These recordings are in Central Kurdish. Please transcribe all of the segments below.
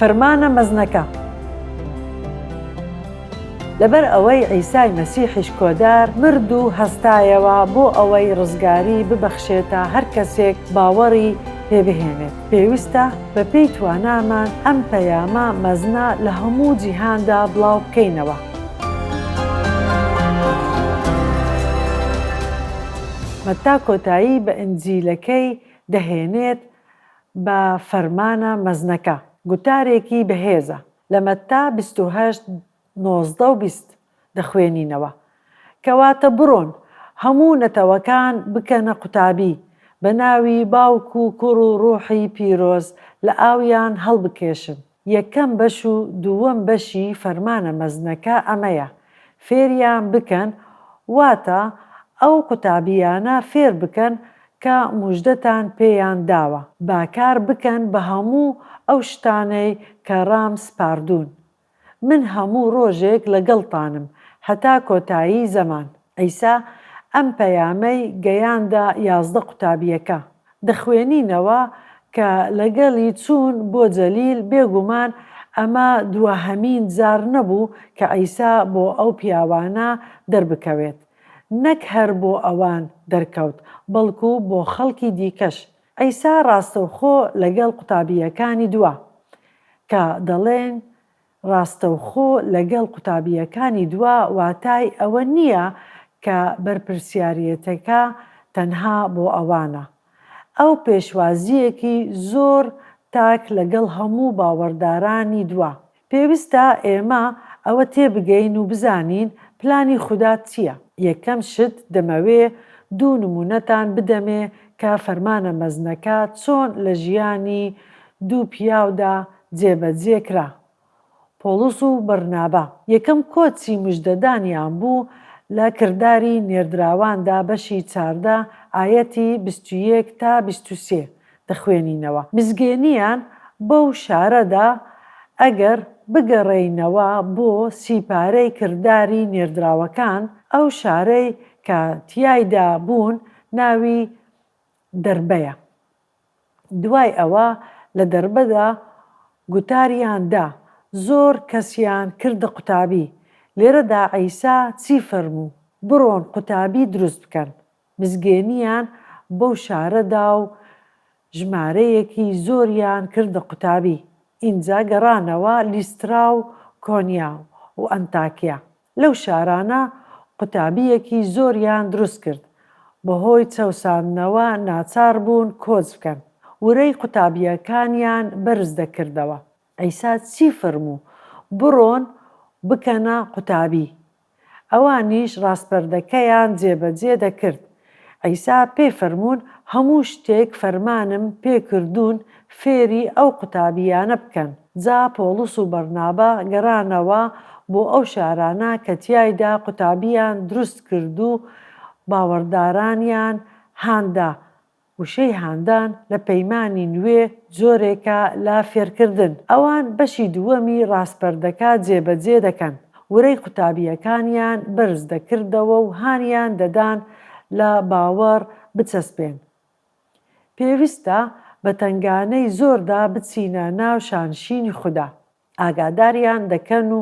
فرمانە مەزنەکە لەبەر ئەوەی عیسای مەسیحیش کۆدار مرد و هەستایەوە بۆ ئەوەی ڕزگاری ببەخشێتە هەر کەسێک باوەڕی پێ بهێنێت پێویستە بە پێی توانامان ئەم پەیامە مەزنە لە هەموو جیهاندا بڵاو بکەینەوە. مەتا کۆتایی بە ئنجیلەکەی دەهێنێت بە فەرمانە مەزنەکە. گوتارێکی بەهێزە. لە مەتا بیست و هەشت، نۆزدە و بیست دەخوێنینەوە. کەواتە بڕۆن، هەموو نەتەوەکان بکەنە قوتابی، بە ناوی باوک و کوڕ و ڕووحی پیرۆز لە ئاویان هەڵبکێشن. یەکەم بەش و دووەم بەشی فەرمانە مەزنەکە ئەمەیە، فێریان بکەن، واتە ئەو قوتابییانە فێر بکەن کە موژدەتان پێیان داوە. با کار بکەن بە هەموو ئەو شتانەی کە ڕام سپاردوون. من هەموو ڕۆژێک لەگەڵتانم هەتا کۆتایی زەمان. عیسا ئەم پەیامەی گەیاندە یازدە قوتابییەکە، دەخوێنینەوە کە لەگەڵی چوون بۆ جەلیل، بێگومان ئەمە دواهەمین جار نەبوو کە عیسا بۆ ئەو پیاوانە دەربکەوێت. نەک هەر بۆ ئەوان دەرکەوت، بەڵکو بۆ خەڵکی دیکەش. عیسا ڕاستەوخۆ لەگەڵ قوتابییەکانی دوا، کە دەڵێن، ڕاستەوخۆ لەگەڵ قوتابییەکانی دوا واتای ئەوە نییە کە بەرپرسیاریەتەکە تەنها بۆ ئەوانە. ئەو پێشوازییەکی زۆر تاک لەگەڵ هەموو باوەڕدارانی دوا. پێویستە ئێمە ئەوە تێبگەین و بزانین پلانی خودا چییە. یەکەم شت دەمەوێ دوو نموونەتان بدەمێ کە فەرمانە مەزنەکە چۆن لە ژیانی دوو پیاودا جێبەجێ کرا. پۆڵس و بەرنابا یەکەم کۆچی مژدەدانیان بوو لە کرداری نێردراواندا بەشی چاردە ئایەتی بیست و یەک تا بیست و سێ دەخوێنینەوە مزگێنیان بەو شارەدا ئەگەر بگەڕێینەوە بۆ سی پارەی کرداری نێردراوەکان ئەو شارەی کە تیایدا بوون ناوی دەربەیە. دوای ئەوە لە دەربەدا گوتاریان دا، زۆر کەسیان کردە قوتابی، لێرەدا عیسا چی فەرموو، بڕۆن قوتابی دروست بکەن، مزگێنیان بەو شارە دا و ژمارەیەکی زۆریان کردە قوتابی، ئینجا گەڕانەوە لیسترا و کۆنیا و ئەنتاکیا، لەو شارانە قوتابییەکی زۆریان دروست کرد، بەهۆی چەوساندنەوە ناچار بوون کۆچ بکەن، ورەی قوتابییەکانیان بەرز دەکردەوە، عیسا چی فەرموو؟ بڕۆن بکەنە قوتابی. ئەوانیش ڕاسپەردەکەیان جێبەجێ دەکرد. عیسا پێی فەرموون، هەموو شتێک فەرمانم پێ کردوون فێری ئەو قوتابییانە بکەن. جا پۆڵس و بەرنابا گەڕانەوە بۆ ئەو شارانە کە تیایدا قوتابییان دروست کرد و باوەڕدارانیان هان دا وشەی هاندان لە پەیمانی نوێ جۆرێکە لە فێرکردن، ئەوان بەشی دووەمی ڕاسپەردەکە جێبەجێ دەکەن، ورەی قوتابییەکانیان بەرز دەکردەوە و هانیان دەدان لە باوەڕ بچەسپێن. پێویستە بە تەنگانەی زۆردا بچینە ناو شانشینی خودا. ئاگاداریان دەکەن و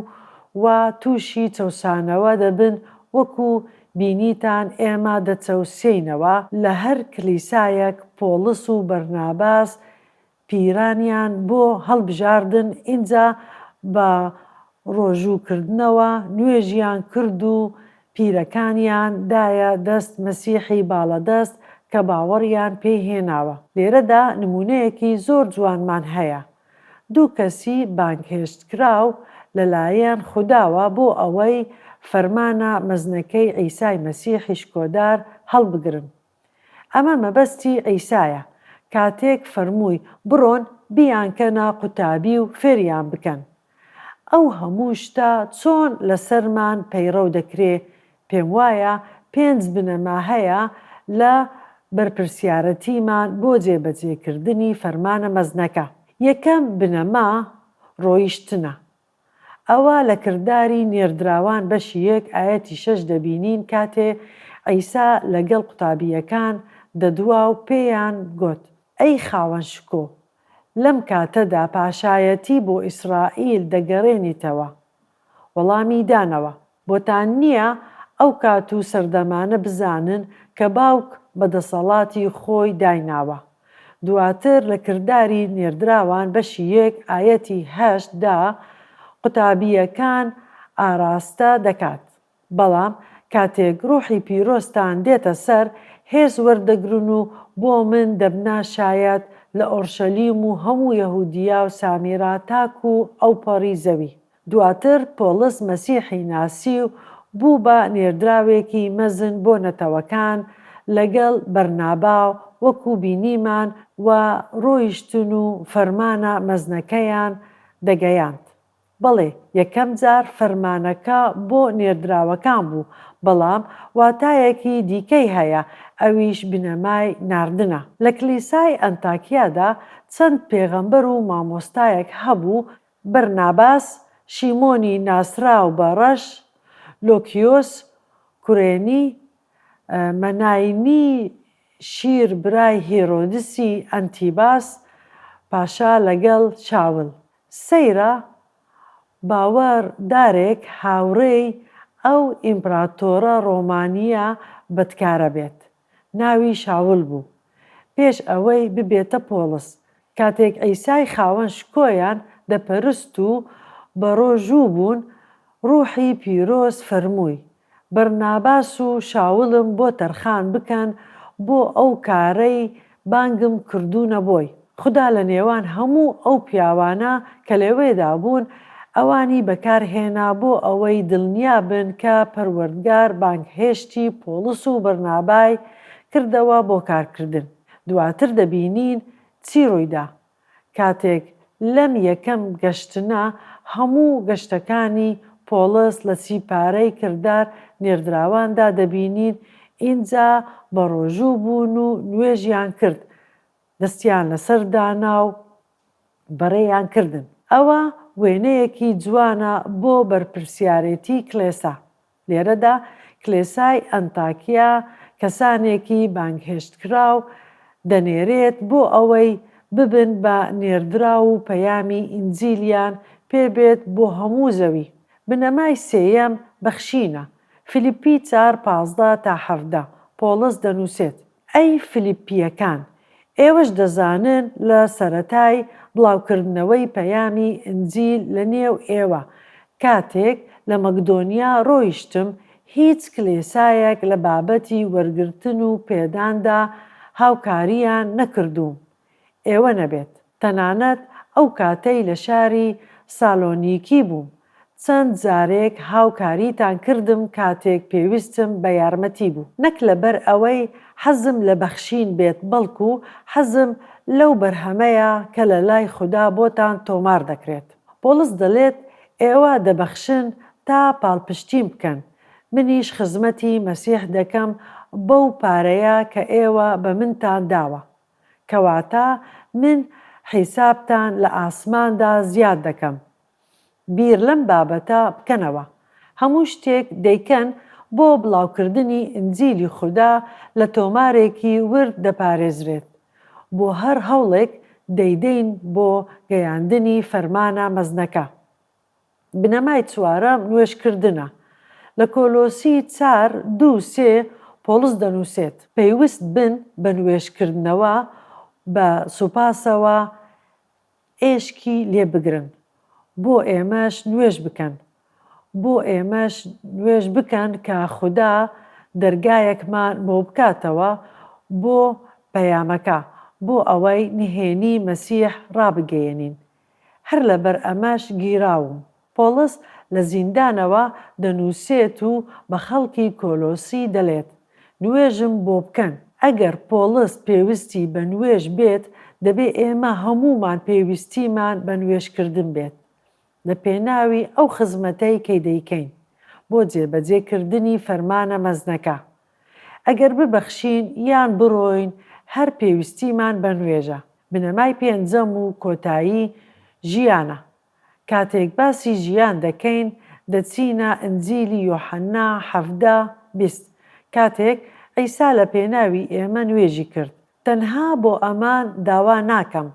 وا تووشی چەوسانەوە دەبن وەکو بینیتان ئێمە دەچەوسێینەوە لە هەر کلیسایەک پۆڵس و بەرناباس پیرانیان بۆ هەڵبژاردن ئینجا بە ڕۆژوو کردنەوە نوێژیان کرد و پیرەکانیان دایە دەست مەسیحی باڵەدەست کە باوەڕیان پێی هێناوە لێرەدا نموونەیەکی زۆر جوانمان هەیە دوو کەسی بانگهێشتکراو لەلایەن خوداوە بۆ ئەوەی فەرمانە مەزنەکەی عیسای مەسیحی شکۆدار هەڵبگرن. ئەمە مەبەستی عیسایە کاتێک فەرمووی بڕۆن بیانکەنە قوتابی و فێریان بکەن. ئەو هەموو شتە چۆن لەسەرمان پەیڕەو دەکرێ پێم وایە پێنج بنەما هەیە لە بەرپرسیارەتیمان بۆ جێبەجێکردنی فەرمانە مەزنەکە. یەکەم بنەما ڕۆیشتنە. ئەوە لە کرداری نێردراوان بەشی یەک ئایەتی شەش دەبینین کاتێ عیسا لەگەڵ قوتابییەکان دەدوا و پێیان گوت، ئەی خاوەن شکۆ، لەم کاتەدا پاشایەتی بۆ ئیسرائیل دەگەرێنیتەوە؟ وەڵامی دانەوە. بۆتان نییە ئەو کات و سەردەمانە بزانن کە باوک بە دەسەڵاتی خۆی دایناوە. دواتر لە کرداری نێردراوان بەشی یەک ئایەتی هەشت دا قوتابییەکان ئاراستە دەکات. بەڵام کاتێک ڕوحی پیرۆزتان دێتە سەر، هێز وەردەگرن و بۆ من دەبنە شایەت لە ئۆڕشەلیم و هەموو یەهودیا و سامیرا تاکوو ئەوپەڕی زەوی. دواتر پۆڵس مەسیحی ناسی و بوو بە نێردراوێکی مەزن بۆ نەتەوەکان لەگەڵ بەرنابا و وەکو بینیمان و ڕۆیشتن و فەرمانە مەزنەکەیان دەگەیاند. بەڵێ یەکەم جار فەرمانەکە بۆ نێردراوەکان بوو، بەڵام واتایەکی دیکەی هەیە ئەویش بنەمای ناردنە. لە کلیسای ئەنتاکیادا چەند پێغەمبەر و مامۆستایەک هەبوو بەرناباس شیمۆنی ناسراو بە ڕەش، لۆکیۆس کورێنی، مەناینی شیر برای هیرۆدسی ئەنتیباس پاشا لەگەڵ شاول، سەیرە باوەڕ دارێک هاوڕێی ئەو ئیمپراتۆرە ڕۆمانییە بەدکارە بێت، ناوی شاول بوو پێش ئەوەی ببێتە پۆڵس کاتێک عیسای خاوەن شکۆیان دەپەرست و بەڕۆژوو بوون ڕوحی پیرۆز فەرمووی بەرناباس و شاولم بۆ تەرخان بکەن بۆ ئەو کارەی بانگم کردونە بۆی خودا لە نێوان هەموو ئەو پیاوانە کە لەوێدا بوون ئەوانی بەکار هێنا بۆ ئەوەی دلنیا بن کە پەروەردگار بانگهێشتی پۆڵس و بەرنابای کردەوە بۆ کارکردن دواتر دەبینین چی ڕوویدا کاتێک لەم یەکەم گەشتنە هەموو گەشتەکانی پۆڵس لە چی پارەی کردار نێردراواندا دەبینین، ئینجا بەڕۆژوو بوون و نوێژیان کرد، دەستیان لەسەر دانا و بەڕێیان کردن. ئەوە وێنەیەکی جوانە بۆ بەرپرسیارێتی کلێسا، لێرەدا کلێسای ئەنتاکیا کەسانێکی بانگهێشتکراو دەنێرێت بۆ ئەوەی ببن بە نێردراو و پەیامی ئینجیلیان پێ بێت بۆ هەموو زەوی. بنەمای سێیەم بەخشینە. فیلیپی چار، پازدە تا حەڤدە، پۆڵس دەنووسێت. ئەی فلیپییەکان، ئێوەش دەزانن لە سەرەتای بڵاوکردنەوەی پەیامی ئینجیل لە نێو ئێوە، کاتێک لە مەکدۆنیا ڕۆیشتم، هیچ کلێسایەک لە بابەتی وەرگرتن و پێداندا هاوکارییان نەکردووم، ئێوە نەبێت، تەنانەت ئەو کاتەی لە شاری سالۆنیکی بووم چەند جارێک هاوکاریتان کردم کاتێک پێویستم بە یارمەتی بوو نەک لەبەر ئەوەی حەزم لە بەخشین بێت بەڵکو حەزم لەو بەرهەمەیە کە لە لای خودا بۆتان تۆمار دەکرێت. پۆڵس دەلێت ئێوە دەبەخشن تا پاڵپشتیم بکەن، منیش خزمەتی مەسیح دەکەم بەو پارەیە کە ئێوە بە منتان داوە. کەواتە من حیسابتان لە ئاسماندا زیاد دەکەم بیر لەم بابەتە بکەنەوە هەموو شتێک دەیکەن بۆ بڵاوکردنی ئینجیلی خودا لە تۆمارێکی ورد دەپارێزرێت بۆ هەر هەوڵێک دەیدەین بۆ گەیاندنی فەرمانە مەزنەکە. بنەمای چوارەم نوێژکردنە. لە کۆلۆسی چار دوو سێ پۆڵس دەنووسێت. پەیوست بن بە نوێژکردنەوە بە سوپاسەوە ئێشکی لێ بگرن. بۆ ئێمەش نوێژ بکەن. بۆ ئێمەش نوێژ بکەن کە خودا دەرگایەکمان بۆ بکاتەوە بۆ پەیامەکە، بۆ ئەوەی نهێنی مەسیح ڕابگەیەنین. هەر لەبەر ئەمەش گیراوم. پۆڵس لە زیندانەوە دەنووسێت و بە خەڵکی کۆلۆسی دەلێت، نوێژم بۆ بکەن. ئەگەر پۆڵس پێوستی بە نوێژ بێت، دەبێ ئێمە هەموومان پێویستیمان بە نوێژکردن بێت لە پێناوی ئەو خزمەتەی کە دەیکەین بۆ جێبەجێکردنی فەرمانە مەزنەکە. ئەگەر ببەخشین یان بڕۆین هەر پێویستیمان بە نوێژە. بنەمای پێنجەم و کۆتایی ژیانە. کاتێک باسی ژیان دەکەین دەچینە ئنجیلی یۆحەنا حەڤدە، بیست. کاتێک عیسا لە پێناوی ئێمە نوێژی کرد، تەنها بۆ ئەمە داوا ناکەم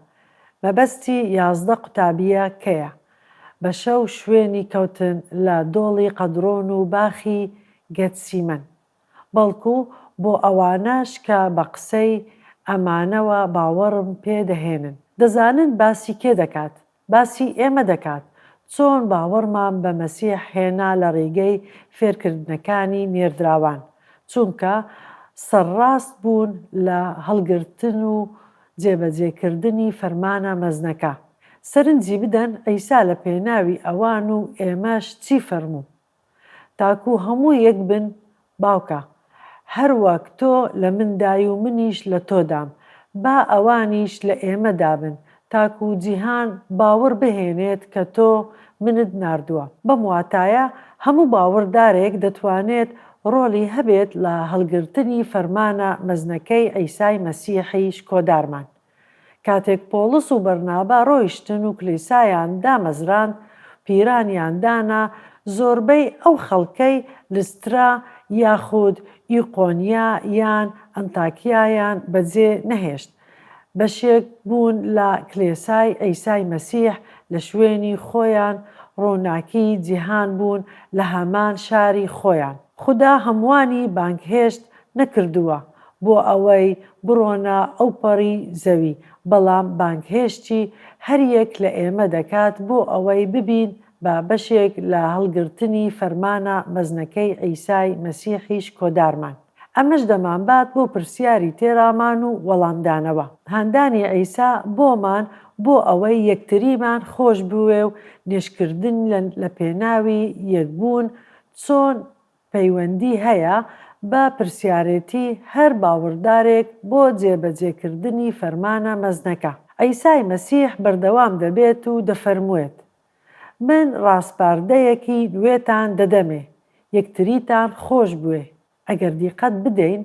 مەبەستی یازدە قوتابیە کەیە بە شەو شوێنی کەوتن لە دۆڵی قەدرۆن و باخی گەتسیمەن بەڵکو بۆ ئەوانەش کە بە قسەی ئەمانەوە باوەڕم پێ دەهێنن دەزانن باسی کێ دەکات باسی ئێمە دەکات چۆن باوەڕمان بە مەسیح هێنا لە ڕیگەی فێرکردنەکانی نێردراوان چونکە سەرڕاست بوون لە هەڵگرتن و جێبەجێ کردنی فەرمانە مەزنەکە سەرنجی بدەن عیسا لە پێناوی ئەوان و ئێمەش چی فەرموو تاکو هەموو یەک بن باوکە هەر وەک تۆ لە من دای و منیش لە تۆ دام با ئەوانیش لە ئێمە دابن تاکو جیهان باوڕ بهێنێت کە تۆ منت ناردووە بەم واتایە هەموو باوڕ دارێک دەتوانێت ڕۆڵی هەبێت لە هەڵگرتنی فەرمانە مەزنەکەی عیسای مەسیحی شکۆدارمان کاتێک پۆڵس و بەرنابا ڕۆیشتن و کلیسایان دامەزراند، پیرانیان دانا، زۆربەی ئەو خەڵکەی لسترا یاخود ئیقۆنیا یان ئەنتاکیایان بەجێ نەهێشت، بەشێک بوون لە کلێسای عیسای مەسیح لە شوێنی خۆیان ڕووناکی جیهان بوون لە هەمان شاری خۆیان. خودا هەمووانی بانگهێشت نەکردووە بۆ ئەوەی بڕۆنە ئەوپەڕی زەوی، بەڵام بانگهێشتی هەریەک لە ئێمە دەکات بۆ ئەوەی ببین بە بەشێک لە هەڵگرتنی فەرمانە مەزنەکەی عیسای مەسیحی شکۆدارمان. ئەمەش دەمانبات بۆ پرسیاری تێڕامان و وەڵامدانەوە، هاندانی عیسا بۆمان بۆ ئەوەی یەکتریمان خۆشبوێ و نوێژکردن لەپێناوی یەکبوون چۆن پەیوەندی هەیە بە پرسیارێتی هەر باوەڕدارێک بۆ جێبەجێکردنی فەرمانە مەزنەکە؟ عیسای مەسیح بەردەوام دەبێت و دەفەرموێت، من ڕاسپاردەیەکی نوێتان دەدەمێ، یەکتریتان خۆش بوێ. ئەگەر دیقەت بدەین،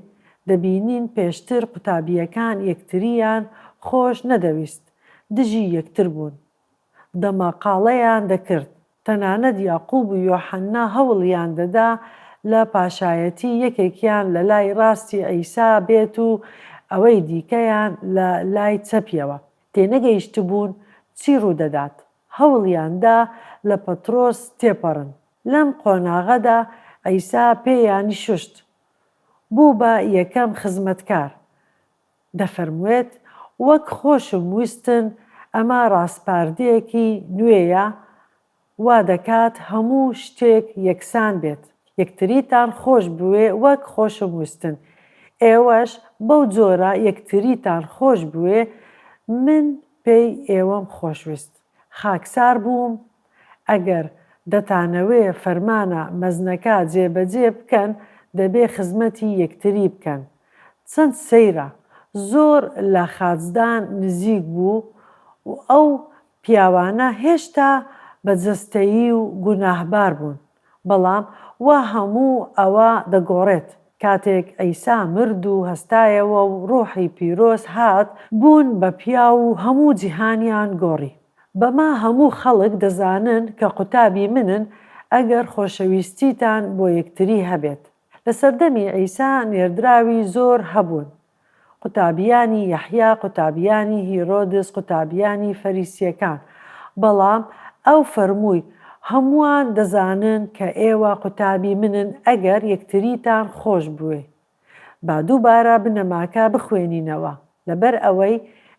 دەبینین پێشتر قوتابییەکان یەکترییان خۆش نەدەویست، دژی یەکتر بوون. دەماقاڵەیان دەکرد، تەنانەت یاقوب و یۆحەننا هەوڵیان دەدا لە پاشایەتی یەکێکیان لە لای ڕاستی عیسا بێت و ئەوەی دیکەیان لە لای چەپیەوە. تێنەگەیشتبوون چی ڕوودەدات. هەوڵیان دا لە پەتڕۆس تێپەڕن. لەم قۆناغەدا عیسا پێیانی شوشت. بوو بە یەکەم خزمەتکار. دەفەرموێت، وەک خۆشم ویستن ئەمە ڕاسپاردەیەکی نوێیە وا دەکات هەموو شتێک یەکسان بێت، یەکتریتان خۆش بوێ وەک خۆشم ویستن ئێوەش بەو جۆرە یەکتریتان خۆش بوێ من پێی ئێوەم خۆش ویست خاکسار بووم، ئەگەر دەتانەوێ فەرمانە مەزنەکە جێبەجێ بکەن دەبێ خزمەتی یەکتری بکەن چەند سەیرە زۆر لە خاچدان نزیک بوو و ئەو پیاوانە هێشتا بە جەستەیی و گوناهبار بوون. بەڵام وا هەموو ئەوە دەگۆڕێت کاتێک عیسا مرد و هەستایەوە و ڕوحی پیرۆز هات بوون بە پیاو و هەموو جیهانیان گۆڕی. بەمە هەموو خەڵک دەزانن کە قوتابی منن ئەگەر خۆشەویستیتان بۆ یەکتری هەبێت. لە سەردەمی عیسا نێردراوی زۆر هەبوون قوتابیانی یەحیا، قوتابیانی هیرۆدس، قوتابیانی فەریسییەکان. بەڵام ئەو فەرمووی، هەمووان دەزانن کە ئێوە قوتابی منن ئەگەر یەکتریتان خۆش بوێ. با دووبارە بنەماکە بخوێنینەوە، لەبەر ئەوەی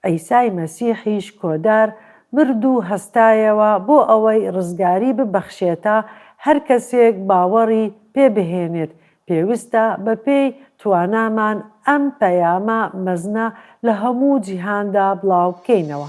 عیسای مەسیحیش کۆدار، مرد و هەستایەوە بۆ ئەوەی ڕزگاری ببەخشێتە هەر کەسێک باوەڕی پێ بهێنێت، پێویستە بەپێی توانامان ئەم پەیامە مەزنە لە هەموو جیهاندا بڵاوبکەینەوە.